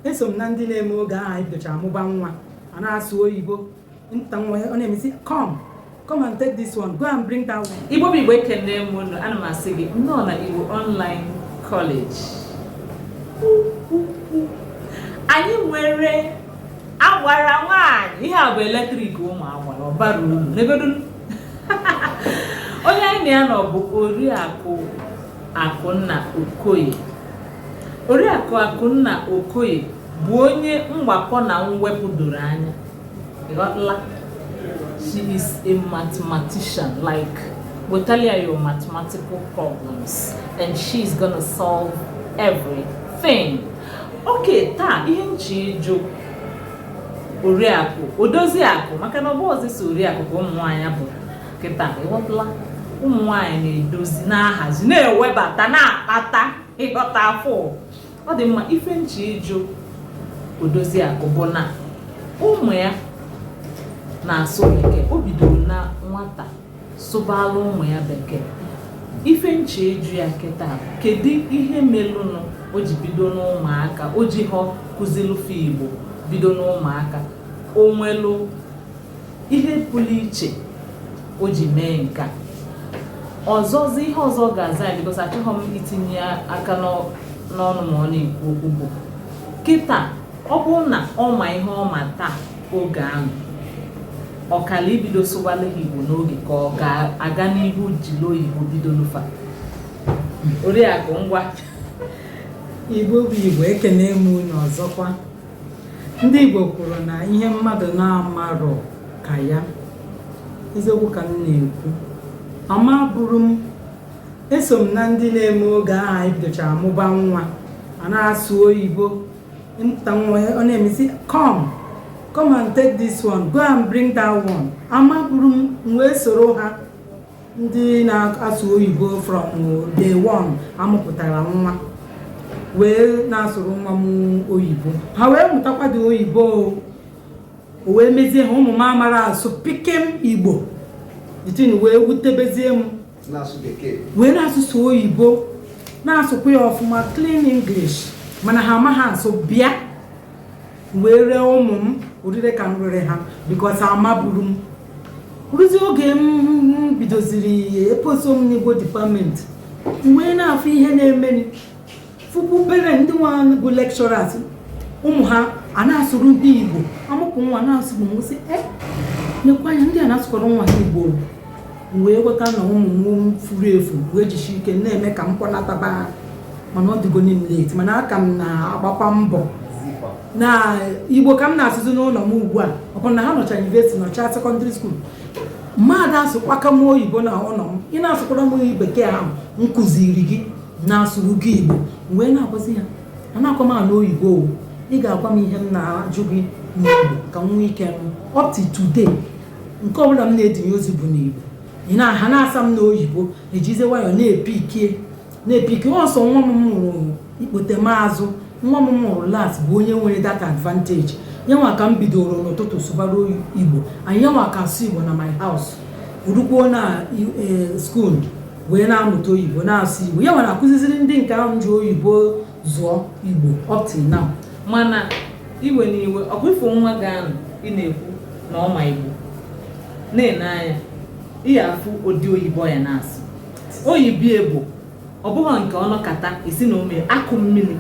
eso m na ndị na-eme oge ahụ anyị bidochara amụba nwa a na-asụ oyibo nta nwa ọ na-emesi come come and take this one go and bring that one igbo bụ igbo ekene m ụnụ ana m asị gị nnọọ na igbo online college anyị nwere agbara nwaanyị ihe a bụ eletrik ụmụ agbara ọbara uru negodu onye anyị na ya nọ bụ oriakụ Akụnna Okoye Oriakụ Akụnna Okoye bụ onye mgbakọ na mwepụ doro anya ịghọtala she is a mathematician like wetalụ ya your mathematical problems and she is gonna solve everything okay taa ihe m chọ ịjụ oriakụ odozi akụ maka na ọ bụrọzi oriakụ ka ụmụ nwaanyị bụ kịta ịghọtala ụmụ nwaanyị na-edozi na-ahazi na-ewebata na-akpata ịghọta afọ ọ dị mma ife m chọ ịjụ odozi akụ bụ na ụmụ ya na-asụ bekee o bidoro na nwata sụbala ụmụ ya bekee ife m chọ ịjụ ya kịta kedu ihe melụnụ o ji bido n'ụmụaka o jihọ kụzilu fa igbo bido n'ụmụaka o nwelụ ihe pụrụ iche o ji mee nke a ọzọzi ihe ọzọ ga-aza ya because achọghị m itinye ya aka n'ọnụ ma ọ na-ekwu okwu bụ kịta ọ bụrụ na ọ ma ihe ọ ma taa oge ahụ ọ kala ibido sụwala ha igbo n'oge ka ọ ga-aga n'ihu jiri oyibo bidolu fa oriakụ ngwa igbo bụ igbo ekene m unu ọzọkwa ndị Igbo kwuru na ihe mmadụ na-amarọ ka ya eziokwu ka m na-ekwu amaburu m eso m na ndị na-eme oge ahụ anyị bidochara amụba nwa a na-asụ oyibo nta nwa ọ na-emesi come come and take this one go and bring that one amaburu m wee soro ha ndị na-asụ oyibo from day one amụpụtara nwa wee na-asụrụ nwa m oyibo ha wee mụtakwadụ oyibo o wee mezie ha ụmụ m amarọ asụ pikim igbo the thing wee wutebezie m wee na-asụ sọ oyibo na-asụkwa ya ọfụma clean english mana ha amaghị asụ bịa m wee ree ụmụ m orire ka m rere ha because amaburu m ruzi oge m bidoziri eposo m n'igbo department m wee na-afụ ihe na-emeni fụkwu obere ndị nwa bụ lecturers ụmụ ha a na-asụrụ ndị igbo amụpụ nwa na-asụrụ m sị e nekwa anya ndị a na-asụkọrọ nwa ha igbo m wee ghọta na ụmụ m furu efu wee jishi ike na-eme ka m kpọnataba ha mana ọ dịgo late mana aka m na-agbakwa mbọ na igbo ka m na-asụzi n'ụlọ m ugbu a ọbụna ha nọcha university nọcha secondary school mmadụ asụkwa ka m oyibo na ụlọ m ị na-asụkwara m bekee ahụ m kụziri gị na-asụrụ gị igbo m wee na-agwazi ha anakwa m anụ oyibo oo ị ga-agwa m ihe m na-ajụ gị n'igbo ka m nwee ike m up to today nke ọbụla m na-edenye ozi bụ n'igbo ha na-asa m n'oyibo ejizi nwayọọ na-epick Na-epick, ọ sọ nwa m mụrụ ikpetemazụ. Nwa m mụrụ last bụ onye nwere that advantage. Yanwa ka m bidoro n'ụtụtụ sụbara Igbo. And yanwa ka asụ Igbo na my house. O rukwuo na eh, school wee na-amụta oyibo na-asụ Igbo. Yanwa na-akụziziri ndị nke ahụ m ji oyibo zụọ Igbo up till now. mana iwe na iwe ọ bụ ị fụ nwa gị ahụ ị na-ekwu na ọ ma igbo na-ene anya ị ya-afụ ụdị oyibo ya na-asụ oyibie bụ ọ bụghị nke ọ nọkata esi na ome akụ mmiri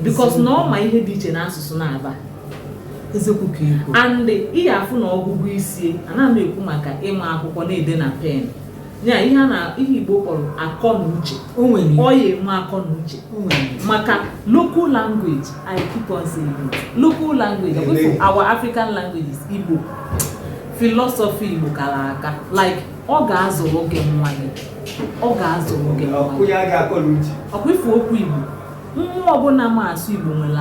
because na ọ ma ihe dị iche n'asụsụ naabọ and ị ga-afụ na ọgụgụ isi ana m ekwu maka ịma akwụkwọ na-ede na pen ya ihe na ihe igbo kpọrọ akọ na uche ọ ya-enwe akọ na uche maka local language i keep on saying local language our african languages igbo philosophy igbo kara aka like Ọ ga-azụrụ gị nwa gị. Ọ ga-azụrụ gị nwa gị. Ọkwa ife okwu Igbo. Nwa ọbụla ma asụ Igbo nwere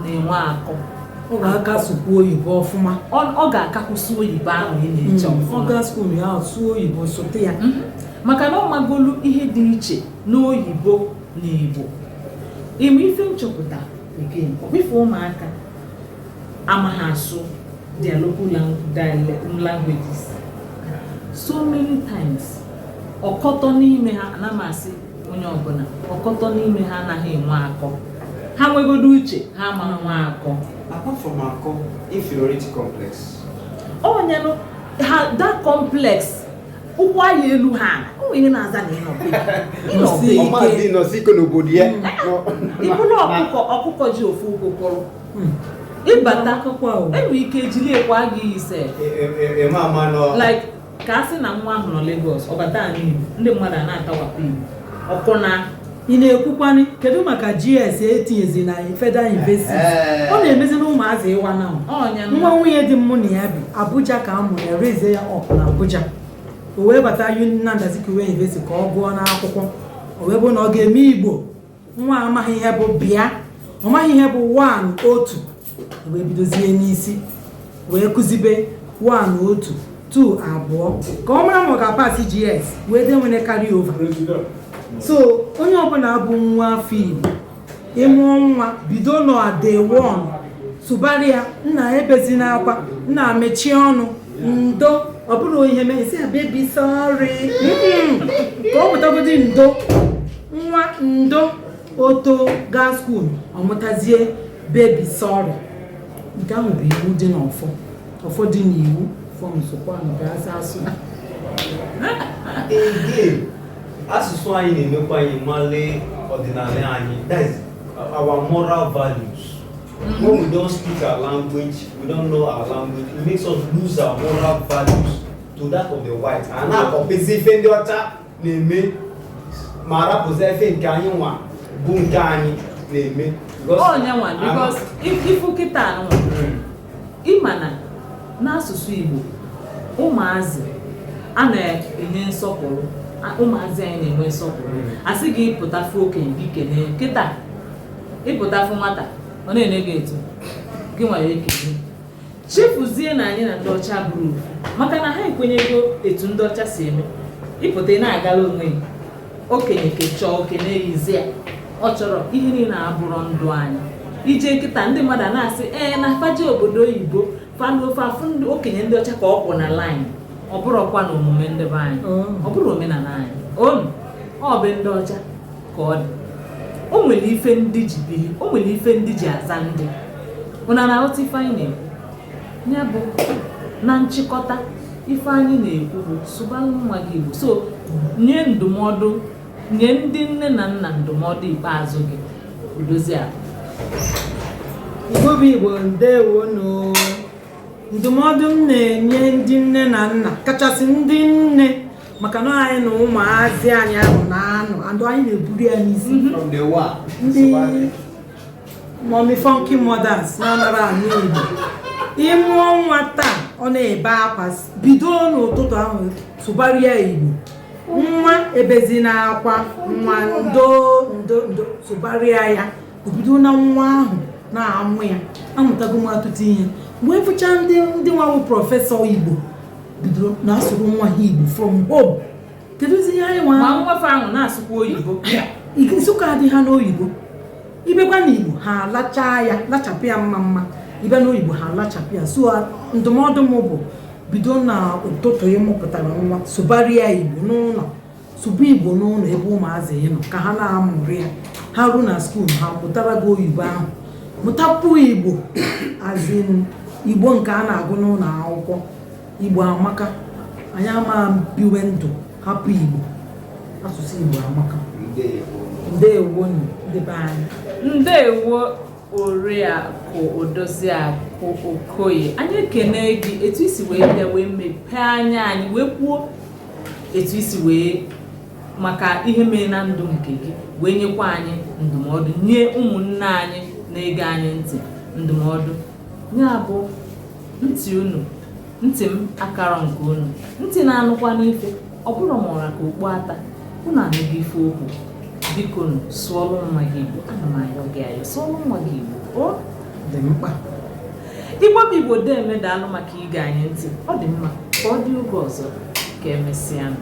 na-enwe akọ. Ọ ga-aka asụkwu oyibo ọfụma. Ọ ga-akakwu asụ oyibo ahụ ị na-eche hmm, ọfụma. Ọ ga-asụ ya sụọ oyibo sụte ya. Hmm. Maka na ọ magolu ihe dị iche n'oyibo na Igbo. Ị ma ife m chọpụta again. Ọkwa ife ụmụaka. amaghị asụ their local languages so many times ọkọtọ n'ime ha ana m asị onye ọbụla ọkọtọ n'ime ha anaghị enwe akọ ha nwegodo uche ha ama nwe akọ apart from akọ inferiority complex o nyenụ ha that complex ụkwụ ahụ elu ha ụmụ ihe na-aza na ịnọbe ike ị bụrụ ọkụkọ ọkụkọ ji ofu ụkwụ kwụrụ hmm. ị bata enwere ike ejiri ekwa gị ise e, e, e, ka a sị na nwa ahụ nọ Lagos ọ bata anị Igbo ndị mmadụ a na-atawapụ Igbo ọkụ na ị na-ekwukwani kedu maka GS e tinyezi na federal university eh. ọ na-emezi na ụmụazị ị ma na nwa nwunye di m mụ na ya bi Abuja ka a mụrụ ya raise ya up na Abuja o wee bata Nnamdi Azikiwe University ka ọ gụọ n'akwụkwọ o wee bụ na ọ ga-eme Igbo nwa amaghị ihe bụ bịa ọ maghị ihe bụ one otu wee bidozie n'isi wee kuzibe one otu two abụọ ka ọ mara ma ọ ga-apasị GS wee dee nwere carry over so onye ọbụla bụ nwa afọ igbo ị mụọ nwa bido na day one sụbara ya nna ebezina akwa nna mechie ọnụ ndo ọ bụrọ ihe mee ị sị ya baby sorry ka ọ mụtagodị ndo nwa ndo o too gaa school ọ mụtazie baby sorry nke ahụ bụ iwu dị n'ọfọ ọfọ dị n'iwu fọm sokwa nke asa asụ asụsụ anyị na-emekwa anyị malụ ọdịnala anyị that is our moral values When we don't speak our language, we don't know our language, it makes us lose our moral values to that of the white. A na-akọpịzi ife ndị ọcha na-eme ma rapụzi ife nke anyị nwa bụ nke anyị na-eme. Onye nwa, because ị fụ kịta nwa, ị ma na n'asụsụ Igbo, ụmụazị a na-enye nsọpụrụ ụmụazị anyị na-enwe nsọpụrụ a sị gị pụta fụ okenye gị kelee kịta ị pụta fụ nwata ọ na-ene gị etu gị nwere ike chefuzie na anyị na ndị ọcha abụrọ ofu maka na ha ekwenyego etu ndị ọcha si eme ị pụta ị na-agala onwe gị okenye nke chọọ o kenezie ya ọ chọrọ ihe niile abụrọ ndụ anyị ị je kịta ndị mmadụ na-asị ee na fa je obodo oyibo fa nọ ofe afụ ndị okenye ndị ọcha ka akwụ na line ọ bụrọkwanụ omume ndị be anyị oh. ọ bụrọ omenala anyị onu ọ bụ ndị ọcha ka ọ dị o nwere ife ndị ji biri o nwere ife ndị ji aza ndị ụnụ na-aghọta ife anyị na-ekwu ya bụ na nchịkọta ife anyị na-ekwu bụ sụbalụ nwa gị igbo so nye ndụmọdụ nye ndị nne na nna ndụmọdụ ikpeazụ gị odozi a igbo bụ igbo ndewo nụ ndụmọdụ m na-enye ndị nne na nna kachasị ndị nne maka na anyị na ụmụazị anyị ahụ na-anọ and anyị na-eburu ya n'isi ndị mọmi funky mothers na-anara anyị igbo ị mụọ nwa taa ọ na-ebe akwa bido n'ụtụtụ ahụ sụbara ya igbo nwa ebezina akwa nwa ndo ndo ndo sụbara ya o bido na nwa ahụ na-amụ ya amụtago m ọtụtụ ihe wee fụcha ndị ndị nwa bụ prọfesọ igbo bidoro na-asụrụ nwa ha Igbo from home kedụzi ihe anyị nwa ma nwafe ahụ na-asụkwa oyibo nsụka adị ha n'oyibo ị bịakwa na Igbo ha lachaa ya lachapụ ya mma mma ị bịa n'oyibo ha lachapụ ya so ndụmọdụ m bụ bido na ụtụtụ ị mụpụtara nwa sụbara ya Igbo n'ụlọ sụba igbo n'ụlọ ebe ụmụazị nọ ka ha na-amụrụ ya ha ruo na skuul ha mụtara gị oyibo ahụ mụtapụ igbo as in igbo nke a na-agụ n'ụlọ akwụkwọ igbo amaka anyị ama biwe ndụ hapụ igbo asụsụ igbo amaka ndewo ndị be anyị ndewo oriakụ odoziakụ okoye anyị ekene gị etu i si wee bịa wee mepee anya anyị wee kwuo etu i si wee maka ihe mere na ndụ nke gị wee nyekwa anyị ndụmọdụ nye ụmụnne anyị na-ege anyị ntị ndụmọdụ ya bụ ntị unu ntị m akarọ nke unu ntị na-anụkwanụ ife ọ bụrọ ma ọ ra ka okpu ata unu anụgo ife o kwu bikonụ sụọlụ nwa gị igbo ana m ayọ gị ayọ sụọlụ nwa gị igbo ọ dị mkpa Igbo bụ Igbo deeme daalụ maka ige anyị ntị ọ dị mma ka ọ dị oge ọzọ ka emesịa nụ